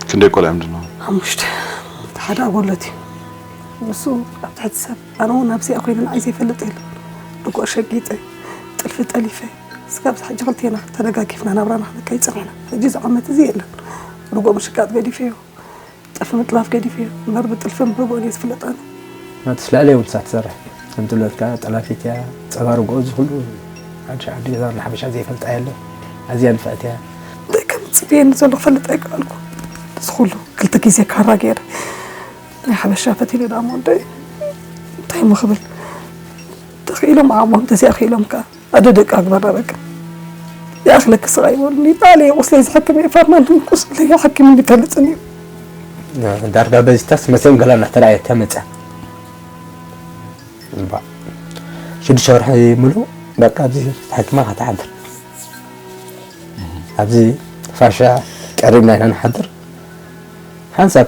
ክንደይ ቆልዓ ምንድን ነው? ሓሙሽተ እቲ ሓደ ኣጎለት እዩ ንሱ ኣብ ትሕቲ ሰብ ኣነ እውን ኣብዚ ኣኮይነ ንዓይ ዘይፈልጥ የለ ድጉዕ ሸጊጠ ጥልፊ ጠሊፈ ስጋብዚ ሕጂ ክልቴና ተደጋጊፍና ናብራና ክንከይ ፀኒሕና ሕጂ እዚ ዓመት እዚ የለን ድጉዕ ምሽቃጥ ገዲፈዮ ጥልፊ ምጥላፍ ገዲፈ እየ እምበር ብጥልፊ ምህጎን እየ ዝፍለጥ ኣነ። ናቱ ስላለ የብሉ ሳብ ትሰርሕ ከም ትብለት ከኣ ጠላፊት እያ ጸባ ርግኦ እዚ ኩሉ ሓድሻ ዓዲ ገዛ ወላ ሓበሻ ዘይፈልጣ የለ ኣዝያ ንፍዕቲ እያ። እንታይ ከም ዝጽበየኒ ዘሎ ክፈልጥ ኣይከኣልኩን እዚ ኩሉ ክልተ ግዜ ካራ ገይረ ናይ ሓበሻ ፈቲነ ደኣ እሞ እንታይ እንታይ እሞ ክብል ተኺኢሎም ዓቕሞም ተዘይኣኺኢሎም ከኣ ኣደ ደቃ ግበራ በቃ ይኣኽለኪ ስቓይ በሉኒ ጣዕለ እየ ቁስለይ ዝሕክም እየ ፋርማንት ቁስለይ ሓኪሙኒ ይፈልጥን እዩ ዳርጋ በዚታስ መሰም ገላ እናተረኣየ ተመፀ ሽዱሽተ ወርሒ ሙሉ በቃ ኣብዚ ተሓኪማ ከተሓድር ኣብዚ ፋሻ ቀሪብና ኢና ንሓድር ሓንሳብ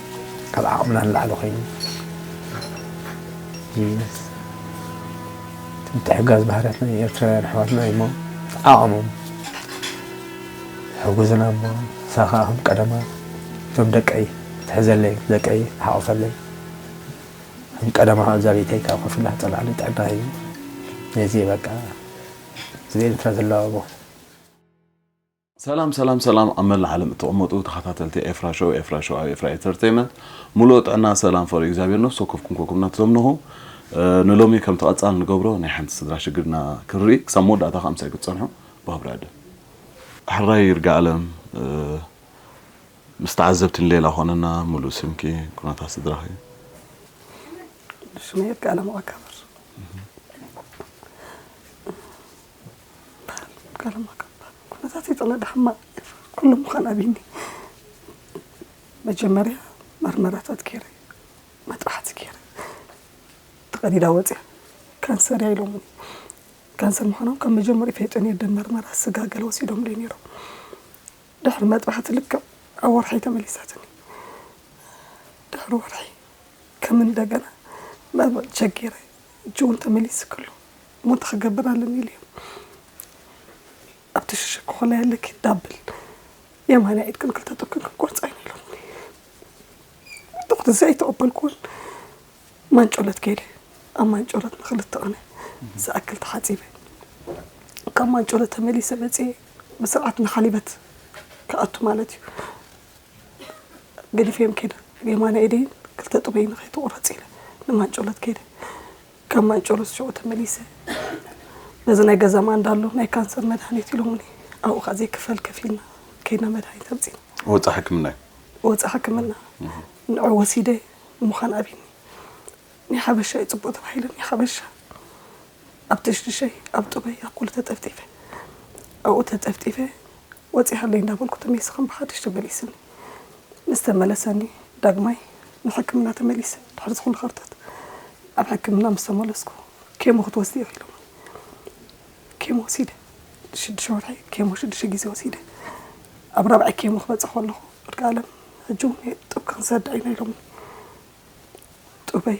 ካብ ዓቕምና ንላዕሊ ኮይኑ ቢዝነስ እቲ ምትሕግጋዝ ባህርያትና ናይ ኤርትራውያን ኣሕዋትና እዩ እሞ ተዓቐሞም ሕጉዝና እሞ ንሳ ከዓ ከም ቀደማ እቶም ደቀይ ትሕዘለይ ደቀይ ትሓቕፈለይ ከም ቀደማ ኣብዛ ቤተይ ካብ ኮፍ ኢላ ትፀልዓለይ ጥዕና እዩ ነዚ በቃ ስለ ኤርትራ ዘለዋ ሰላም ሰላም ሰላም ኣብ መላእ ዓለም እትቅመጡ ተኻታተልቲ ኤፍራ ሾው ኤፍራ ሾው ኣብ ኤፍራ ኤተርተይመንት ሙሉኦ ጥዕና ሰላም ፈሩ እግዚኣብሔር ነፍሲ ወከፍኩም ኮኩም ናትዘምንኹ ንሎሚ ከምቲ ቀጻል ንገብሮ ናይ ሓንቲ ስድራ ሽግር እና ክንርኢ ክሳብ መወዳእታ ከኣ ምሳይ ክትጸንሑ ብክብሪ ዕድም ሕራይ ይርጋኣለም ምስ ተዓዘብቲ ንሌላ ኮነና ሙሉእ ስምኪ ኩነታት ስድራኺ። ስመይ ይርጋኣለም ኣካብር። እምበኣር ቃለ መሓላ ኩነታት ይጥለዳ ሕማቕ እዩ ኩሉ ምዃን ኣብይኒ መጀመርያ መርመራታት ገይረ መጥባሕቲ ገይረ ተቐዲዳ ወፅያ ካንሰር እያ ኢሎሙኒ ካንሰር ምዃኖም ካብ መጀመሪኡ ፈይጠን እየ ደም መርመራ ስጋ ገለ ወሲዶም ደይ ነይሮም ድሕሪ መጥባሕቲ ልክዕ ኣብ ወርሒ ተመሊሳትኒ ድሕሪ ወርሒ ከም እንደገና ቸጊረ እጅውን ተመሊሱ ክሉ ሞት ኽገብር ኣለኒ ኢሉ እዩ ኣብ ተሸሸክኾላይ ኣለኪ ዳብል የማንያ ኢድክን ክልተ ጡብክን ክንቆርፃ ኢና ኢሎምኒ ዶክተር እዚ ኣይተቐበልኩዎን ማንጮለት ከይደ ኣብ ማንጮለት ንክልተ ቕነ ዝኣክል ተሓፂበ ካብ ማንጮለት ተመሊሰ መፅየ ብስርዓት ንሓሊበት ክኣቱ ማለት እዩ ገዲፈዮም ከይደ የማና ኢደይን ክልተ ጡበይ ንኸይተቑረፅ ኢለ ንማንጮለት ከይደ ካብ ማይጨሎስ ሽዑ ተመሊሰ ነዚ ናይ ገዛ ማንዳ ኣሎ ናይ ካንሰር መድሃኒት ኢሎሙኒ ኣብኡ ከኣ ዘይክፈል ከፊልና ከይድና መድሃኒት ኣምጺእና ወጻኢ ሕክምና እዩ ወጻኢ ሕክምና ንዑ ወሲደ ምዃን ኣብኒ ናይ ሓበሻ እዩ ጽቡቅ ተባሂለ ናይ ሓበሻ ኣብ ትሽድሸይ ኣብ ጥበይ ኣብ ኩሉ ተጠፍጢፈ ኣብኡ ተጠፍጢፈ ወጺኣለይ እንዳበልኩ ተመይሰ ከም ብሓድሽ ተመሊስኒ ምስ ተመለሰኒ ዳግማይ ንሕክምና ተመሊሰ ድሕሪ ዝኹሉ ከርተት ኣብ ሕክምና ምስ ተመለስኩ ኬሞ ክትወስዲ ኢኺ ኢሎሙኒ ኬሞ ወሲደ ሽዱሽተ ወርሒ ኬሞ ሽዱሽተ ግዜ ወሲደ ኣብ ራብዓይ ኬሞ ክበፅሕ ከለኹ ወዲ ኣለም ሕጂ እውን ጡብ ካንሰር ዳኢና ኢሎሙኒ ጡበይ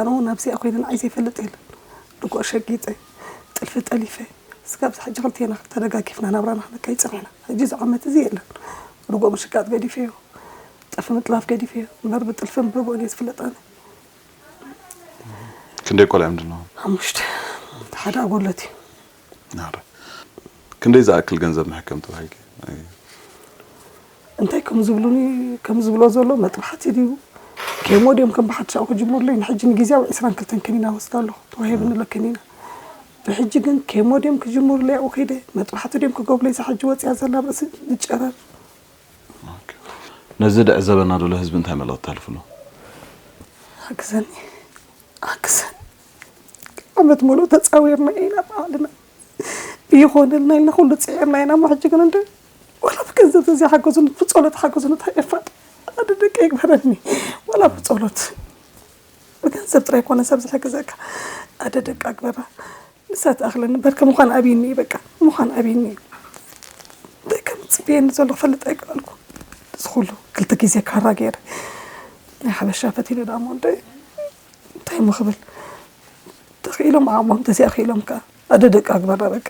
ኣነ ውን ኣብዚኣ ኮይነ ንዓይ ዘይፈልጥ የለን ርግኦ ሸጊጠ ጥልፊ ጠሊፈ እስካብ እዚ ሕጂ ክልቴና ተደጋጊፍና ናብራና ክንከይድ ጸኒሕና ሕጂ እዚ ዓመት እዚ የለን ርግኦ ምሽቃጥ ገዲፈዮ ጥልፊ ምጥላፍ ገዲፈዮ እምበር ብጥልፍን ብርግኦን እየ ዝፍለጥ ኣነ ክንደይ ቆልዑ እዮም ዘለዎም ሓሙሽተ እቲ ሓደ ኣጎለትዩ። ናህሪ ክንደይ ዝኣክል ገንዘብ ንሕከም ተባሂልኪ? እንታይ ከም ዝብሉኒ ከም ዝብሎ ዘሎ መጥባሕቲ ድዩ ኬሞ ድዮም ከም ብሓድሽ ኣብኡ ክጅምሩለይ ንሕጂ ንግዜያዊ ዕስራን ክልተን ከኒና ወስድ ኣለኹ ተዋሂብኒ ኣሎ ከኒና ብሕጂ ግን ኬሞ ድዮም ክጅምሩለይ ኣብኡ ከይደ መጥባሕቲ ድዮም ክገብሩለይ እዛ ሕጂ ወፂኣ ዘላ ኣብ ርእሲ ንጨረር ነዚ ድዕዘበና ዘሎ ህዝቢ እንታይ መልእኽቲ ተሕልፍሉ? ሓግዘኒ ኣክሰን ዓመት ሙሉእ ተጻዊርና ኢና ባዕልና ይኾነልና ኢልና ኩሉ ጽዒርና ኢና እሞ ሕጂ ግን እንደ ዋላ ብገንዘብ ተዘይሓገዙኒ ብጸሎት ሓገዙኒ እንታይ የፋጥ ኣደ ደቂ ይግበረኒ ዋላ ብጸሎት ብገንዘብ ጥራይ ኮነ ሰብ ዝሕግዘካ ኣደ ደቂ ኣግበራ ንሳ ትኣኽለኒ በርከ ምዃን ኣብይኒ እዩ በቃ ምዃን ኣብይኒ እዩ እንታይ ከም ዝፅበየኒ ዘሎ ክፈልጥ ኣይከኣልኩ እዚ ኩሉ ክልተ ግዜ ካራ ገይረ ናይ ሓበሻ ፈቲነ ዳሞ እንደ እንታይ እሞ ክብል ተኽኢሎም ዓቕሞም ተዚኣ ክኢሎም ከዓ ኣደ ደቂ ኣግባራ በቃ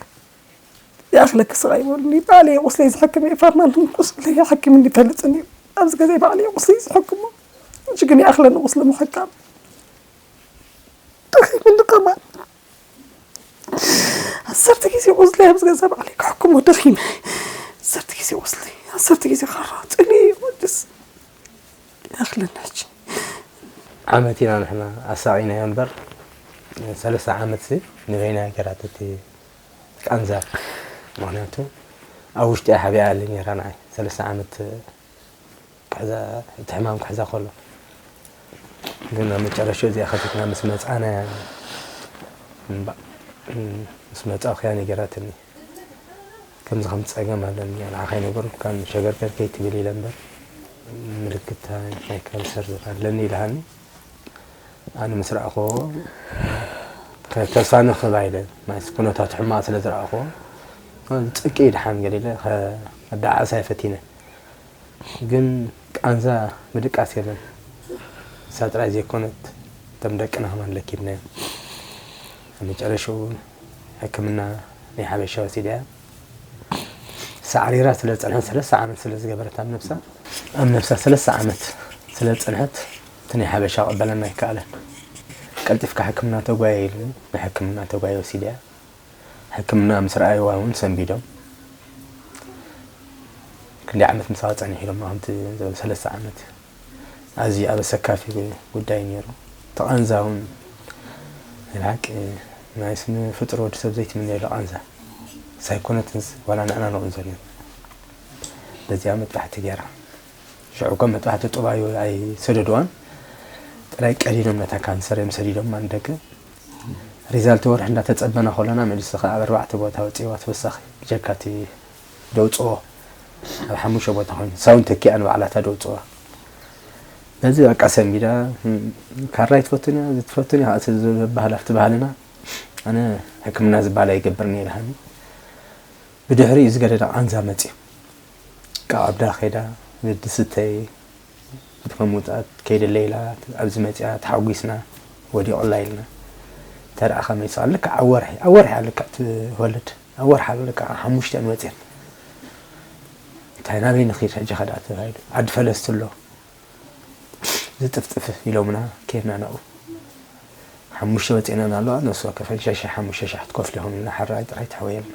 ይኣኽለኪ ስቓይ ይበሉኒ ባዕለ እየ ቁስለይ ዝሕክም እየ ፋርማን ቁስለ ይሓክምኒ ይፈልፅን እዩ ኣብዚ ገዘ ባዕለ እየ ቁስለይ ዝሕክሞ እጅ ግን ይኣኽለኒ ቁስሊ ምሕካም ደኺምኒ ከማን ዓሰርተ ግዜ ቁስሊ ኣብዚ ገዛ ባዕለይ ክሕክሞ ደኺመ ዓሰርተ ግዜ ቁስሊ ዓሰርተ ግዜ ካራ ፅልኢ ወድስ ይኣኽለና ሕጂ ዓመት ኢና ንሕና ኣሳቒናዮ እምበር ሰለስተ ዓመት ሲ ንበይና ገራት እቲ ቃንዛ ምክንያቱ ኣብ ውሽጢ ሓቢኣ ኣለ ነራ ንዓይ ሰለስተ ዓመት ክሕዛ እቲ ሕማም ክሕዛ ከሎ ግን ኣብ መጨረሽኡ እዚኣ ከፊትና ምስ መጻና እምባእ ምስ መጻእኩያ ነገራትኒ ከምዚ ከምቲ ጸገም ኣለኒ ንዓኻ ኣይነገርኩካን ሸገርገር ከይትብል ኢለ እምበር ምልክት ናይ ካንሰር ኣለኒ ኢልሃኒ ኣነ ምስ ረኣኹዎ ተስፋ ንኽባ ኢለ ማለት ኩነታቱ ሕማቕ ስለ ዝረኣኹዎ ጽቂ ድሓን ገለ ኢለ ከዳዓስ ኣይፈቲነ ግን ቃንዛ ምድቃስ የለን ንሳ ጥራይ ዘይኮነት እቶም ደቅና ከማን ለኪምናዮም ኣብ መጨረሽኡ ሕክምና ናይ ሓበሻ ወሲዳያ ሳዕሪራ ስለ ዝጸንሐት ሰለስተ ዓመት ስለ ዝገበረት ኣብ ነብሳ ኣብ ነብሳ ሰለስተ ዓመት ስለ ዝጸንሐት እቲ ናይ ሓበሻ ክቕበለና ኣይከኣለን ቀልጢፍካ ሕክምና ተጓየ ኢሉኒ ንሕክምና ተጓየ ወሲዳያ ሕክምና ምስ ረኣይዋ እውን ሰንቢዶም ክንደይ ዓመት ምሳኻ ፀኒሑ ኢሎማ ከምቲ ዝበለ ሰለስተ ዓመት ኣዝዩ ኣብ ኣሰካፊ ጉዳይ ነይሩ ተቓንዛ እውን ናይ ብሓቂ ናይ ስነ ፍጡር ወዲ ሰብ ዘይትምነየሉ ቃንዛ ሳይኮነትንስ ዋላ ንዕና ንቕንዞ ነይሩ በዚኣ መጥባሕቲ ገይራ ሽዑ እኳ መጥባሕቲ ጡብ ኣይሰደድዋን ጥራይ ቀዲዶም ነታ ካንሰር እዮም ሰዲዶም ኣንደገ ሪዛልቲ ወርሒ እንዳተጸበና ከሎና መልሲ ከኣ ኣብ ኣርባዕተ ቦታ ወጺእዋ ተወሳኺ ብጀካ እቲ ደውጽኦ ኣብ ሓሙሽተ ቦታ ኮይኑ ሳውን ተኪኣ ንባዕላታ ደውጽዋ ነዚ በቃ ሰንቢዳ ካራይ ትፈቱን እያ ዝትፈቱን እያ እቲ ዝበሃል ኣብቲ ባህልና ኣነ ሕክምና ዝበሃል ኣይገብርን እየ ድሃኒ ብድሕሪ እዩ ዝገደደ ቃንዛ መፅዩ ካብ ዓብዳ ከይዳ ንድስተይ እቲ ከም ውጽኣት ከይደለ ኢላ ኣብዚ መጺኣ ተሓጒስና ወዲቑላ ኢልና ተርኣ ከመይ ስቓ ልክዕ ኣብ ወርሒ ኣብ ወርሒ ልክዕ ትወልድ ኣብ ወርሒ ኣብ ልክዕ ኣብ ሓሙሽተ ንወጽኤት እንታይ ናበይ ንኺድ ሕጂ ከደኣ ተባሂሉ ዓዲ ፈለስቲ ኣሎ ዝጥፍጥፍ ኢሎምና ኬድና ናብኡ ሓሙሽተ ወጺእና ኣለዋ ነሱ ወከፈን ሸሸ ሓሙሽተ ሸሕ ትከፍልኹም ኢልና ሕራይ ጥራይ ተሕወየልና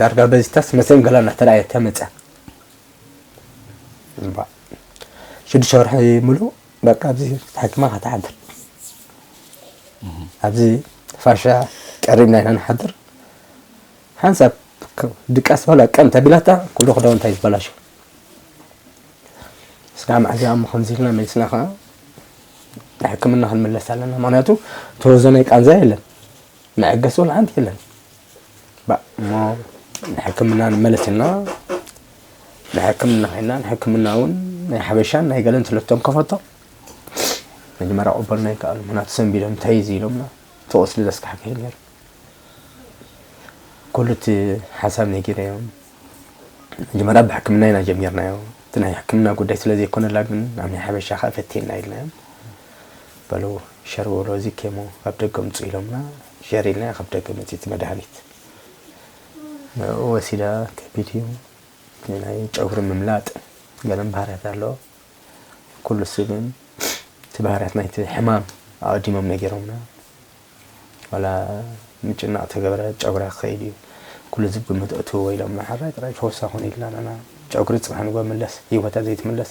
ዳርጋ በዚታስ መሰን ገላ እናተረኣየ ተመፀ እምባ ሽዱሽተ ወርሒ ሙሉእ በቃ ኣብዚ ተሓኪማ ከተሓድር ኣብዚ ፋሻ ቀሪብና ኢና ንሓድር ሓንሳብ ድቃስ በላ ቀን ተቢላታ ኩሉ ክዳውንታ እዩ ዝበላሸ ስጋ መዓዚ እሞ ከምዚ ኢልና መሊስና ከዓ ሕክምና ክንምለስ ኣለና ምክንያቱ ተወዘነ ቃንዛ የለን መዐገሲ ወላ ሓንቲ የለን ባእ እሞ ንሕክምና ንመለስ እና ንሕክምና ኮይና ንሕክምና እውን ናይ ሓበሻን ናይ ገለን ስለቶም ከፈቶ መጀመርያ ቆበልና ይከኣሉ ምክንያቱ ሰንቢዶም ተይዙ ኢሎምና ተወስሊ ዘስካሕክሕ ነይሩ ኩሉ እቲ ሓሳብ ነጊረዮ መጀመርያ ብሕክምና ኢና ጀሚርናዮ እቲ ናይ ሕክምና ጉዳይ ስለዘይኮነላ ግን ናብ ናይ ሓበሻ ከዓ ፈቴና ኢልናዮም በሉ ሸር በሉ እዚ ኬሞ ካብ ደገ ኣምፅኡ ኢሎምና ሸር ኢልና ካብ ደገ መፂኡ እቲ መድሃኒት ንዕኡ ወሲዳ ከቢድ እዩ ናይ ጨጉሪ ምምላጥ ገለን ባህርያት ኣሎ ኩሉ እሱ ግን እቲ ባህርያት ናይቲ ሕማም ኣቐዲሞም ነጊሮምና ዋላ ምጭናቕ ተገብረ ጨጉራ ክኸይድ እዩ ኩሉ ህዝብ ግምት እትውዎ ኢሎምና ሓራይ ጥራይ ፈውሳ ኮነ ኢልና ንና ጨጉሪ ፅባሕ ንጎ ምለስ ህይወታ ዘይትምለስ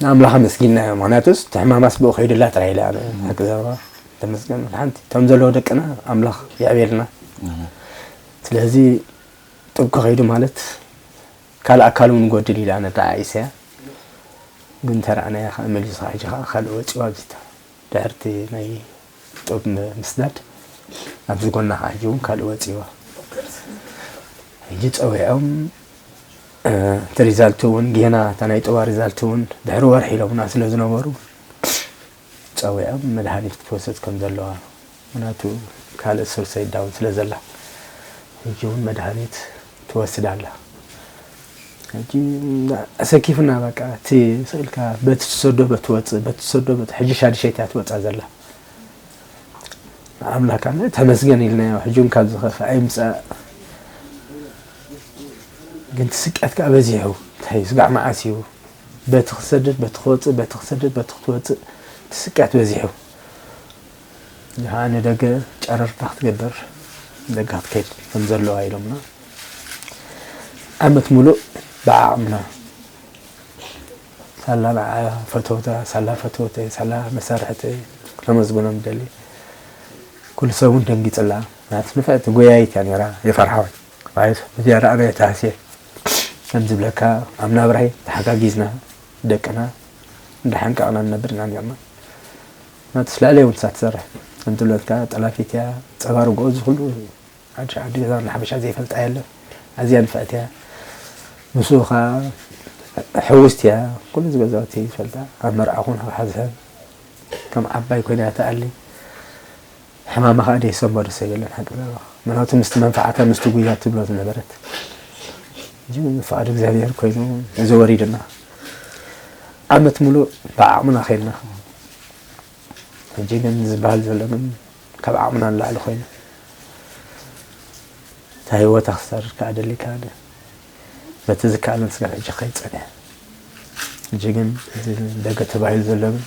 ንኣምላኽ ኣመስጊንናዮ ምክንያቱስ እቲ ሕማማስ ብኡ ከይድላ ጥራይ ኢላ ሓቂ ዘረባ ተመስገን ሓንቲ እቶም ዘለዎ ደቅና ኣምላኽ የዕብየልና ስለዚ ጥብቂ ከይዱ ማለት ካልእ ኣካል እውን ጎድል ኢላ ነተዓኢሰያ ግን ተረኣናያ ከዓ መሊሱ ሕጂ ከዓ ካልእ ወፂኡ ኣብዚታ ድሕሪቲ ናይ ጡብ ምስዳድ ኣብዚ ጎና ሓጂ ውን ካልእ ወጺዎ ሕጂ ጸዊዖም እቲ ሪዛልት ውን ጌና እታ ናይ ጡባ ሪዛልት ውን ድሕሪ ወርሒ ኢሎምና ስለ ዝነበሩ ጸዊዖም መድሃኒት ክትወስድ ከም ዘለዋ ምክንያቱ ካልእ ሱር ሰይዳውን ስለ ዘላ ሕጂ ውን መድሃኒት ትወስድ ኣላ ሕጂ ኣሰኪፉና በቃ እቲ ስእልካ በቲ ትሰዶ በቲ ወጽእ በቲ ትሰዶ በቲ ሕጂ ሻድሸይቲ እያ ትወጻ ዘላ ንኣምላክ ኣምላክ ተመስገን ኢልናዮ ሕጂ ውን ካብ ዝኸፍእ ኣይምጻእ ግን ትስቅያት ከዓ በዚሑ እንታይ ስጋዕ መዓስ እዩ በቲ ክሰደድ በቲ ክወፅእ በቲ ክሰደድ በቲ ክትወፅእ ትስቅያት በዚሑ ንዓ ንደገ ጨረርታ ክትገብር ንደገ ክትከይድ ከም ዘለዋ ኢሎምና ዓመት ሙሉእ ብዓቕምና ሳላ ንዓ ፈተውታ ሳላ ፈተውተይ ሳላ መሳርሕተይ ከመስግኖም ይደሊ ኩሉ ሰብ እውን ደንጊፅላ ናት ንፍዕቲ ጎያይት እያ ነራ የፈርሓወይ ማለት ብዝያዳ ኣነ ተሃስየ ከም ዝብለካ ኣብ ናብራይ ተሓጋጊዝና ደቅና እንዳሓንቀቕና ንነብር ኢና ነርና ናቱ ስለኣለይ እውን እሳ ትሰርሕ ከምትብለትካ ጠላፊት እያ ፀባ ርግኦ እዚ ኩሉ ሓዱሽ ዓዲ ገዛ ወላ ሓበሻ ዘይፈልጣ የለን ኣዝያ ንፍዕቲ እያ ምስኡ ከዓ ሕውስቲ እያ ኩሉ እዚ ገዛውቲ ይፈልጣ ኣብ መርዓ ኩን ክሓዝሀን ከም ዓባይ ኮይና እያ ትኣሊ ሕማማ ከኣ ደይሰሞ ዶ ሰብ የለን ሓቂ ዛረባ ምናቱ ምስቲ መንፍዓታ ምስቲ ጉያ ትብሎ ዝነበረት ሕጂ ፍቃድ እግዚኣብሄር ኮይኑ እዚ ወሪዱና ዓመት ሙሉእ ብዓቅምና ከይድና ሕጂ ግን ዝበሃል ዘሎ ግን ካብ ዓቅምና ንላዕሊ ኮይኑ እታ ህይወታ ክሳርድ ከኣ ደሊካ በቲ ዝከኣሎም ስጋብ ሕጂ ክኸይድ ጸኒሑ። ሕጂ ግን እዚ ደገ ተባሂሉ ዘሎ ግን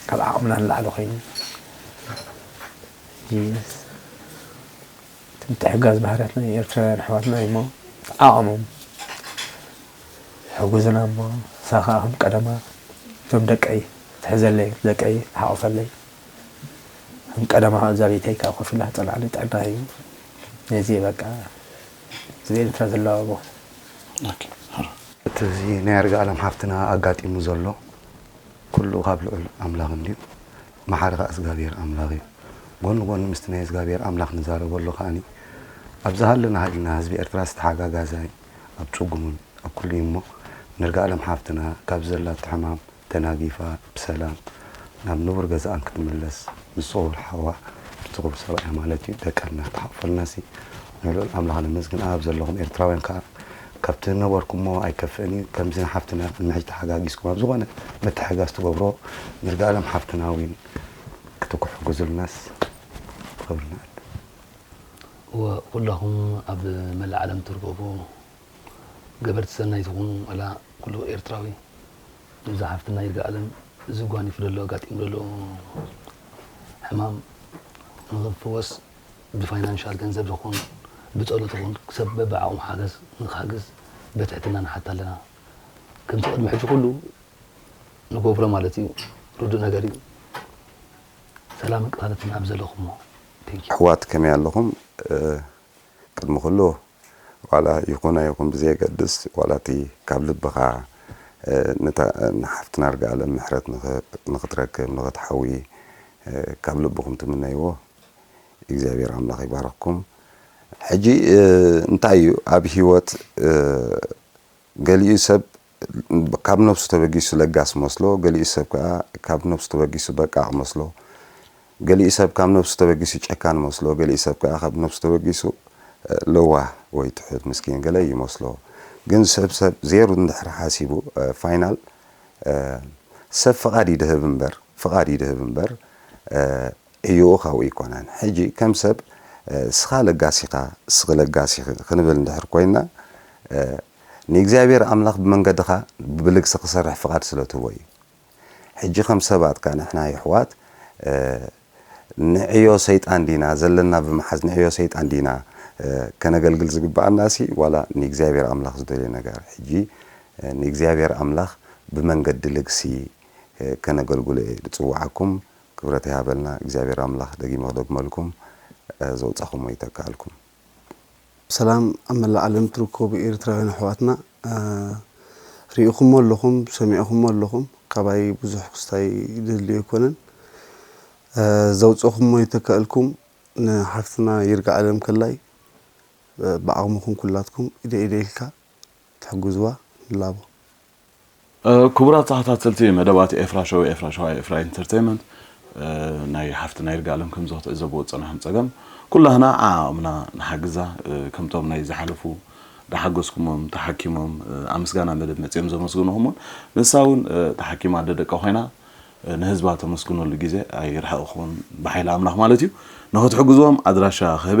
ካብ ዓቕምና ንላዕሊ ኮይኑ ሕጂ እቲ ምትሕግጋዝ ባህርያትና ኤርትራውያን ኣሕዋትና እዩ እሞ ተዓቐሞም ሕጉዝና እሞ ንሳ ከዓ ከም ቀደማ እቶም ደቀይ ትሕዘለይ ደቀይ ትሓቑፈለይ ከም ቀደማ እዛ ቤተይ ከዓ ኮፍ ኢላ ትጸንዓለይ ጥዕና እዩ ነዚ በቃ እዚ ኤርትራ ዘለዋ ቦታ። እቲ እዚ ናይ ኣርጋኣለም ሓፍትና ኣጋጢሙ ዘሎ ኩሉ ካብ ልዑል ኣምላኽ እንድዩ ማሓሪ ካኣ እዝጋብሄር ኣምላኽ እዩ ጎኒ ጎኒ ምስቲ ናይ እዝጋብሄር ኣምላኽ ንዛረበሉ ካኣኒ ኣብ ዝሃለና ሃሊና ህዝቢ ኤርትራስ ተሓጋጋዛይ ኣብ ጽጉሙን ኣብ ኩሉ እዩ እሞ ንርጋኣለም ሓፍትና ካብዚ ዘላቶ ሕማም ተናጊፋ ብሰላም ናብ ንቡር ገዛኣን ክትምለስ ምስ ጽሩር ሓዋ ምስ ጽሩር ሰብኣያ ማለት እዩ ደቃ እናተሓቆፈልናሲ ንልዑል ኣምላኽ ነመስግን ኣብ ዘለኹም ኤርትራውያን ከኣ ካብቲ ዝነበርኩሞ ኣይከፍእን እዩ ከምዚ ንሓፍትና ቅድሚ ሕጂ ተሓጋጊዝኩም ኣብ ዝኾነ ምትሕጋዝ ትገብሮ ንርጋኣለም ሓፍትና ዊን ክትኩሕጉዙልናስ ክብርና ኣለ እወ ኩላኹም ኣብ መላእ ዓለም ትርገቡ ገበርቲ ሰናይ ትኹኑ ወላ ኩሉ ኤርትራዊ እዛ ሓፍትና ይርጋኣለም እዚ ጓኒፉ ዘሎ ኣጋጢሙ ዘሎ ሕማም ንኽፍወስ ብፋይናንሻል ገንዘብ ይኹን ብፀሎት ይኹን ሰብ በብዓቕሙ ሓገዝ ንክሓግዝ በትሕትና ንሓት ኣለና ከምቲ ቅድሚ ሕጂ ኩሉ ንገብሮ ማለት እዩ ርዱእ ነገር እዩ ሰላምን ቅሳነትን ኣብ ዘለኹሞ ኣሕዋት ከመይ ኣለኹም ቅድሚ ኩሉ ዋላ ይኹን ኣይኹን ብዘየገድስ ዋላ እቲ ካብ ልብኻ ነታ ንሓፍትና እርጋኣለም ምሕረት ንኽትረክብ ንኽትሓዊ ካብ ልብኹም ትምነይዎ እግዚኣብሔር ኣምላኽ ይባርኽኩም። ሕጂ እንታይ እዩ ኣብ ሂወት ገሊኡ ሰብ ካብ ነብሱ ተበጊሱ ለጋስ መስሎ፣ ገሊኡ ሰብ ከኣ ካብ ነብሱ ተበጊሱ በቃቕ መስሎ፣ ገሊኡ ሰብ ካብ ነብሱ ተበጊሱ ጨካን መስሎ፣ ገሊኡ ሰብ ከኣ ካብ ነብሱ ተበጊሱ ለዋህ ወይ ትሑት ምስኪን ገለ ይመስሎ። ግን ሰብ ሰብ ዜሩ እንድሕር ሓሲቡ ፋይናል ሰብ ፍቓድ ይድህብ እምበር ፍቓድ ይድህብ እምበር ዕዮኡ ካብኡ ኣይኮነን። ሕጂ ከም ሰብ ስኻ ለጋስ ኢኻ ስኺ ለጋስ ኢኺ ክንብል እንድሕር ኮይና፣ ንእግዚኣብሄር ኣምላኽ ብመንገድኻ ብልግሲ ክሰርሕ ፍቓድ ስለ ትህቦ እዩ። ሕጂ ከም ሰባት ከኣ ንሕና የሕዋት ንዕዮ ሰይጣን ዲና ዘለና ብምሓዝ ንዕዮ ሰይጣን ዲና ከነገልግል ዝግብኣናሲ ዋላ ንእግዚኣብሄር ኣምላኽ ዝደልዮ ነገር ሕጂ ንእግዚኣብሄር ኣምላኽ ብመንገዲ ልግሲ ከነገልግሎ እየ ዝጽውዓኩም ክብረት ይሃበልና እግዚኣብሄር ኣምላኽ ደጊመ ክደግመልኩም ዘውጻኹሞ ይተክኣልኩም። ሰላም ኣብ መላእ ዓለም ትርከቡ ኤሪትራውያን ኣሕዋትና ሪኢኹሞ ኣለኹም ሰሚዕኹሞ ኣለኹም ካባይ ብዙሕ ክስታይ ድልድል ኣይኮነን ዘውጽእኹሞ ይተከኣልኩም ንሓፍትና ይርግኣለም ከላይ ብዓቕምኹም ኩላትኩም ኢደይ ኢደይ ኢልካ ትሕግዝዋ ንላቦ። ክቡራት ተኸታተልቲ መደባት ኤፍራ ሾው ኤፍራ ሸዋ ኤፍራ ኢንተርተይመንት ናይ ሓፍትና ይርጋለም ከምዚ ክትዕዘብዎ ዝጸናሕኩም ጸገም ኩላህና ዓዓቕምና ንሓግዛ ከምቶም ናይ ዝሓለፉ ዳሓገዝኩሞም ተሓኪሞም ኣብ ምስጋና መደብ መጺኦም ዘመስግኑኹም ውን ንሳ ውን ተሓኪማ ኣደ ደቃ ኮይና ንህዝባ ተመስግነሉ ግዜ ኣይርሕቕኹን ብሓይሊ ኣምላኽ ማለት እዩ ንኽትሕግዝዎም ኣድራሻ ክህበ